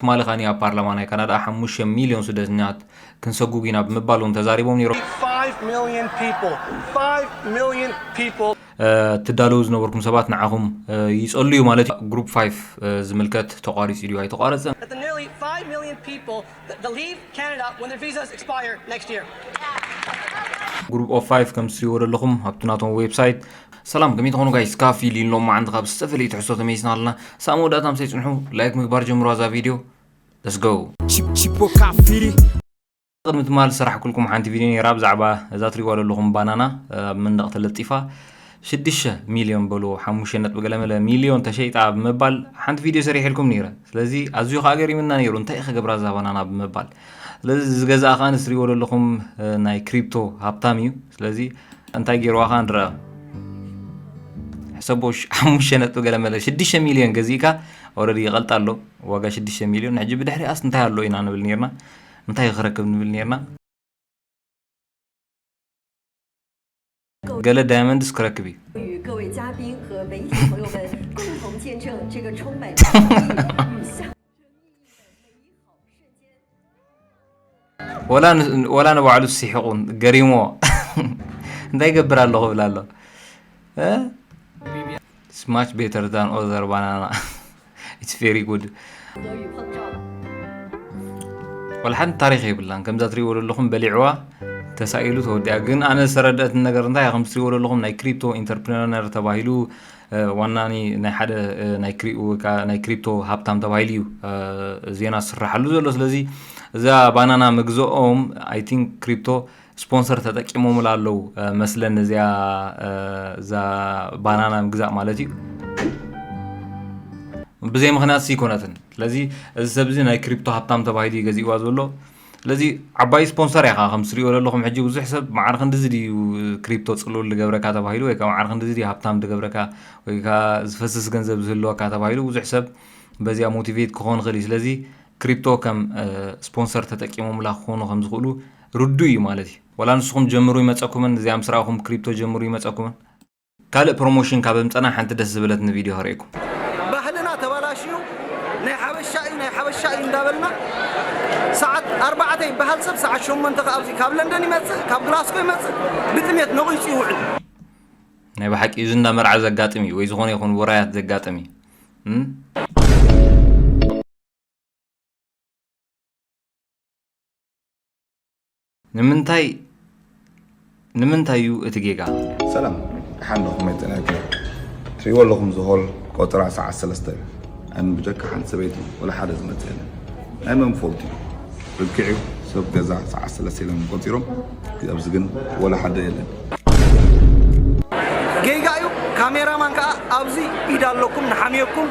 ትማሊ ከኣ ኣብ ፓርላማ ናይ ካናዳ ሓሙሽተ ሚልዮን ስደተኛት ክንሰጉግ ኢና ብምባል እውን ተዛሪቦም ነይሮም። ትዳለዉ ዝነበርኩም ሰባት ንዓኹም ይጸሉ እዩ ማለት እዩ። ግሩፕ ፋይፍ ዝምልከት ተቋሪጹ ድዩ ኣይተቋረጸን? ግሩፕ ኦፍ ፋይፍ ከምቲ ትሪእዎ ዘለኹም ኣብቲ ናቶም ዌብሳይት ሰላም ከመይ ትኾኑ ጋይስ ካብ ፊሊን ሎማዓንቲ ካብ ዝተፈለዩ ትሕዝቶ ተመይስና ኣለና ሳብ መወዳእታ ምሰይ ፅንሑ ላይክ ምግባር ጀምሩዋ እዛ ቪድዮ ለስ ጎ ቅድሚ ትማል ስራሕ ኩልኩም ሓንቲ ቪድዮ ነይራ ብዛዕባ እዛ ትሪዋ ዘለኹም ባናና ኣብ መንደቕ ተለጢፋ ሽዱሽተ ሚልዮን በልዎ ሓሙሽተ ነጥቢ ገለመለ ሚልዮን ተሸይጣ ብምባል ሓንቲ ቪድዮ ሰሪሕልኩም ነይረ ስለዚ ኣዝዩ ከዓ ገሪምና ነይሩ እንታይ ክገብራ እዛ ባናና ብምባል ስለዚ እዚ ገዛ ከኣ ንስሪዎ ዘለኹም ናይ ክሪፕቶ ሃብታም እዩ ስለዚ እንታይ ገይርዋ ከኣ ንረኣ ሕሰቦ ሓሙሽተ ነጥቢ ገለ መለ ሽዱሽተ ሚልዮን ገዚእካ ኦረዲ ይቐልጣ ኣሎ ዋጋ ሽዱሽተ ሚልዮን ሕጂ ብድሕሪኣስ እንታይ ኣሎ ኢና ንብል ነርና እንታይ ክረክብ ንብል ነርና ገለ ዳይመንድስ ክረክብ እዩ ወላ ንባዕሉ ሲሕቑ ገሪሞ እንታይ ይገብር ኣለኹ ይብል ኣሎ It's much better than other banana. It's very good. ወላ ሓንቲ ታሪክ የብላን ከምዛ ትሪእዎ ዘለኹም በሊዕዋ ተሳኢሉ ተወዲኣ ግን ኣነ ዝተረድአት ነገር እንታይ ከም ትሪእዎ ዘለኹም ናይ ክሪፕቶ ኢንተርፕረነር ተባሂሉ ዋና ናይ ሓደ ናይ ክሪፕቶ ሃብታም ተባሂሉ እዩ ዜና ዝስራሓሉ ዘሎ ስለዚ እዛ ባናና ምግዝኦም ኣይ ቲንክ ክሪፕቶ ስፖንሰር ተጠቂሞምላ ኣለው መስለን እዚኣ እዛ ባናና ምግዛእ ማለት እዩ ብዘይ ምክንያት ሲኮነትን ስለዚ እዚ ሰብ እዚ ናይ ክሪፕቶ ሃብታም ተባሂሉ እዩ ገዚእዋ ዘሎ ስለዚ ዓባይ ስፖንሰር ኢኻ ከም ትሪኦ ዘለኹም ሕጂ ብዙሕ ሰብ ማዕር ክንዲዚ ድዩ ክሪፕቶ ፅሉል ዝገብረካ ተባሂሉ ወይ ከዓ ማዕር ክንዲዚ ድዩ ሃብታም ዝገብረካ ወይ ከዓ ዝፈስስ ገንዘብ ዝህልወካ ተባሂሉ ብዙሕ ሰብ በዚኣ ሞቲቬት ክኾን ይኽእል እዩ ስለዚ ክሪፕቶ ከም ስፖንሰር ተጠቂሞምላ ክኾኑ ከም ዝኽእሉ ርዱእ እዩ ማለት እዩ። ዋላ ንስኹም ጀምሩ ይመጸኩምን እዚኣ ምስ ረኣኹም ክሪፕቶ ጀምሩ ይመጸኩምን። ካልእ ፕሮሞሽን ካብ ኣምጸና ሓንቲ ደስ ዝበለትኒ ቪድዮ ከርእየኩም። ባህልና ተባላሽዩ ናይ ሓበሻ እዩ ናይ ሓበሻ እዩ እንዳበልና ሰዓት ኣርባዕተ ይበሃል ሰብ ሰዓት ሸሞንተ ከኣ ኣብዚ ካብ ለንደን ይመጽእ ካብ ግላስኮ ይመጽእ ብጥሜት ነቒጹ ይውዕል። ናይ ብሓቂ እዩ እዚ እንዳ መርዓ ዘጋጥም እዩ ወይ ዝኾነ ይኹን ውራያት ዘጋጥም እዩ። ንምንታይ ንምንታይ እዩ እቲ ጌጋ? ሰላም ደሓን ዶ ከመይ ጤናኪ ትሪእዎ ኣለኹም ዝሆል ቆጽራ ሰዓት ሰለስተ እዩ ኣን ብጀካ ሓንቲ ሰበይቲ ወላ ሓደ ዝመጽእ የለን ናይ መን ፎልት እዩ ርክዕ እዩ ሰብ ገዛ ሰዓት ሰለስተ ኢሎም ቆጺሮም ኣብዚ ግን ወላ ሓደ የለን ጌጋ እዩ ካሜራማን ከዓ ኣብዚ ኢድ ኣለኩም ንሓምየኩም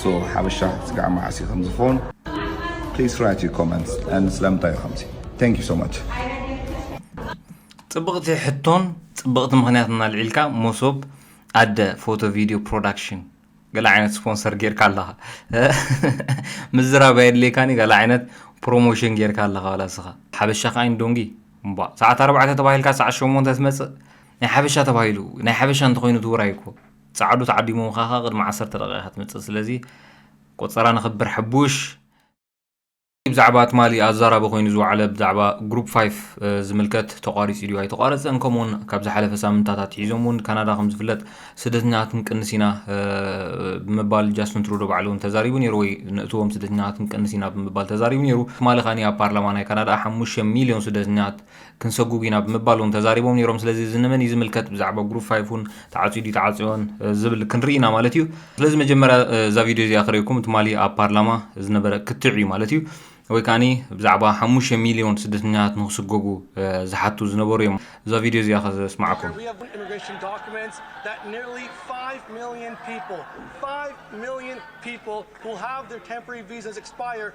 So ሓበሻ ስጋዕ መዓስ እዩ ከም ዝኸውን please write your comments and ስለምንታይ እዩ ከምዚ thank you so much ጽብቕቲ ሕቶን ጽብቕቲ ምክንያትን ኣልዒልካ መሶብ ኣደ ፎቶ ቪድዮ ፕሮዳክሽን ገለ ዓይነት ስፖንሰር ጌርካ ኣለኻ ምዝራብ ኣየድልየካን እዩ ገለ ዓይነት ፕሮሞሽን ጌርካ ኣለኻ ዋላ ስኻ ሓበሻ ከዓ ኢንዶንጊ እምባ ሰዓት ኣርባዕተ ተባሂልካ ሰዓት ሸሞንተ ትመፅእ ናይ ሓበሻ ተባሂሉ ናይ ሓበሻ እንተኮይኑ ትውራይ እኮ ጻዓዱ ተዓዲሞምኻ ከኣ ቅድሚ ዓሰርተ ደቂቃ ኢኻ ትመጽእ ስለዚ ቆጸራ ነኽብር ሐቡሽ። ብዛዕባ ትማሊ ኣዛራቢ ኮይኑ ዝወዓለ ብዛዕባ ግሩፕ ፋይፍ ዝምልከት ተቋሪጹ ድዩ ኣይተቋረጸን ከምኡውን ካብ ዝሓለፈ ሳምንታት ኣትሒዞም እውን ካናዳ ከም ዝፍለጥ ስደተኛታት ክንቅንስ ኢና ብምባል ጃስትን ትሩዶ ባዕሉ እውን ተዛሪቡ ነይሩ ወይ ንእትዎም ስደተኛታት ክንቅንስ ኢና ብምባል ተዛሪቡ ነይሩ ትማሊ ካኒ ኣብ ፓርላማ ናይ ካናዳ ሓሙሽተ ሚልዮን ስደተኛታት ክንሰጉግ ኢና ብምባል እውን ተዛሪቦም ነይሮም። ስለዚ እዚ ንመን እዩ ዝምልከት ብዛዕባ ጉሩፕ ፋይፍ እውን ተዓፅዩ ድዩ ተዓፅዮን ዝብል ክንርኢ ኢና ማለት እዩ። ስለዚ መጀመርያ እዛ ቪድዮ እዚኣ ክርእኩም ትማሊ ኣብ ፓርላማ ዝነበረ ክትዕ እዩ ማለት እዩ። ወይ ከዓኒ ብዛዕባ ሓሙሽተ ሚልዮን ስደተኛታት ንክስጎጉ ዝሓቱ ዝነበሩ እዮም። እዛ ቪድዮ እዚኣ ከስምዓኩም። million people, 5 million people who have their temporary visas expire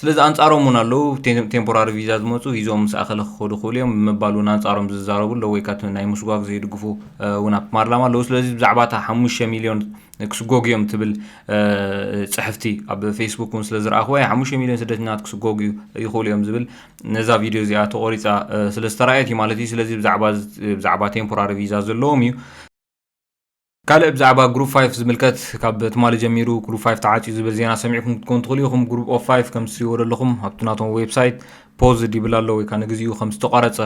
ስለዚ ኣንጻሮም እውን ኣለዉ። ቴምፖራሪ ቪዛ ዝመጹ ሂዞም ምስ ኣኸለ ክኸዱ ክኽእሉ እዮም ብምባል እውን ኣንጻሮም ዝዛረቡ ኣለዉ ወይ ካት ናይ ምስጓግ ዘይድግፉ እውን ኣብ ፓርላማ ኣለዉ። ስለዚ ብዛዕባ እታ ሓሙሽተ ሚልዮን ክስጎጉ እዮም ትብል ፅሕፍቲ ኣብ ፌስቡክ እውን ስለ ዝረኣኽዎ እያ ሓሙሽተ ሚልዮን ስደተኛታት ክስጎጉ ይኽእሉ እዮም ዝብል ነዛ ቪድዮ እዚኣ ተቖሪፃ ስለ ዝተረኣየት እዩ ማለት እዩ ስለዚ ብዛዕባ ብዛዕባ ቴምፖራሪ ቪዛ ዘለዎም እዩ ካልእ ብዛዕባ ግሩፕ ፋይፍ ዝምልከት ካብ ትማሊ ጀሚሩ ግሩፕ ፋይፍ ተዓፅዩ ዝብል ዜና ሰሚዕኩም ክትኮኑ ትኽእሉ ኢኹም ግሩፕ ኦፍ ፋይፍ ከም ዝስይዎ ዘለኹም ኣብቲ ናቶም ዌብሳይት ፖዝ ይብል ኣሎ ወይ ከዓ ንግዚኡ ከም ዝተቋረፀ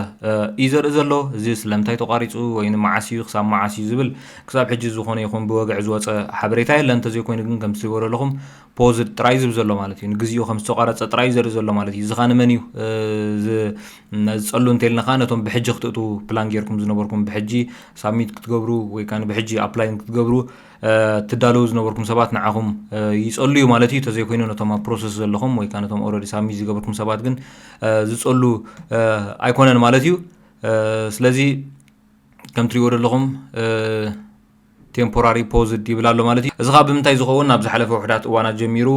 እዩ ዘርኢ ዘሎ እዚ ስለምንታይ ተቋሪፁ ወይ ንመዓስ እዩ ክሳብ መዓስ እዩ ዝብል ክሳብ ሕጂ ዝኾነ ይኹን ብወግዒ ዝወፀ ሓበሬታ የለን እንተዘይኮይኑ ግን ከም ዝስይዎ ዘለኹም ፖዝድ ጥራይ ዝብ ዘሎ ማለት እዩ ንግዚኡ ከም ዝተቋረጸ ጥራይ ዘርኢ ዘሎ ማለት እዩ እዚ ኸኣ ንመን እዩ ዝጸሉ እንተልና ኸኣ ነቶም ብሕጂ ክትእትዉ ፕላን ጌርኩም ዝነበርኩም ብሕጂ ሳብሚት ክትገብሩ ወይ ከኣ ብሕጂ ኣፕላይ ክትገብሩ ትዳለዉ ዝነበርኩም ሰባት ንዓኹም ይጸሉ እዩ ማለት እዩ ተዘይኮይኑ ነቶም ኣብ ፕሮሰስ ዘለኹም ወይ ከኣ ነቶም ኦልሬዲ ሳብሚት ዝገበርኩም ሰባት ግን ዝጸሉ ኣይኮነን ማለት እዩ ስለዚ ከም ትሪእዎ ዘለኹም ቴምፖራሪ ፖዝድ ይብል ኣሎ ማለት እዩ። እዚ ከኣ ብምንታይ ዝኸውን ኣብ ዝሓለፈ ውሑዳት እዋናት ጀሚሩ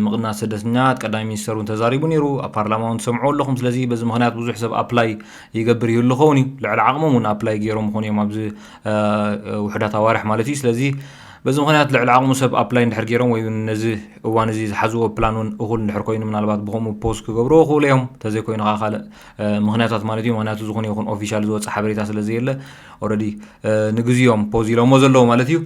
ምቕናስ ስደተኛት ቀዳማይ ሚኒስተር እውን ተዛሪቡ ነይሩ ኣብ ፓርላማ እውን ትሰምዕዎ ኣለኹም ስለዚ በዚ ምኽንያት ብዙሕ ሰብ ኣፕላይ ይገብር ይህሉ ይኸውን እዩ ልዕሊ ዓቕሞም እውን ኣፕላይ ገይሮም ይኾኑ እዮም ኣብዚ ውሑዳት ኣዋርሕ ማለት እዩ ስለዚ በዚ ምክንያት ልዕሊ ዓቕሙ ሰብ ኣፕላይ እንድሕር ገይሮም ወይ እውን ነዚ እዋን እዚ ዝሓዝዎ ፕላን እውን እኹል እንድሕር ኮይኑ ምናልባት ብከምኡ ፖስት ክገብርዎ ክእሉ እዮም እንተዘይኮይኑ ከዓ ካልእ ምክንያታት ማለት እዩ ምክንያቱ ዝኾነ ይኹን ኦፊሻል ዝወፀ ሓበሬታ ስለዘየለ ኦረዲ ንግዚ ዮም ፖዝ ኢሎሞ ዘለዉ ማለት እዩ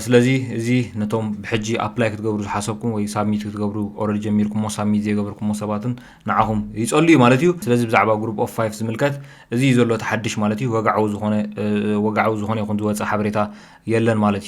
ስለዚ እዚ ነቶም ብሕጂ ኣፕላይ ክትገብሩ ዝሓሰብኩም ወይ ሳብሚት ክትገብሩ ኦረዲ ጀሚርኩሞ ሳብሚት ዘይገበርኩሞ ሰባትን ንዓኹም ይጸሉ እዩ ማለት እዩ ስለዚ ብዛዕባ ግሩፕ ኦፍ ፋይፍ ዝምልከት እዚ እዩ ዘሎ ተሓድሽ ማለት እዩ ወግዓዊ ዝኾነ ወግዓዊ ዝኾነ ይኹን ዝወጸ ሓበሬታ የለን ማለት እዩ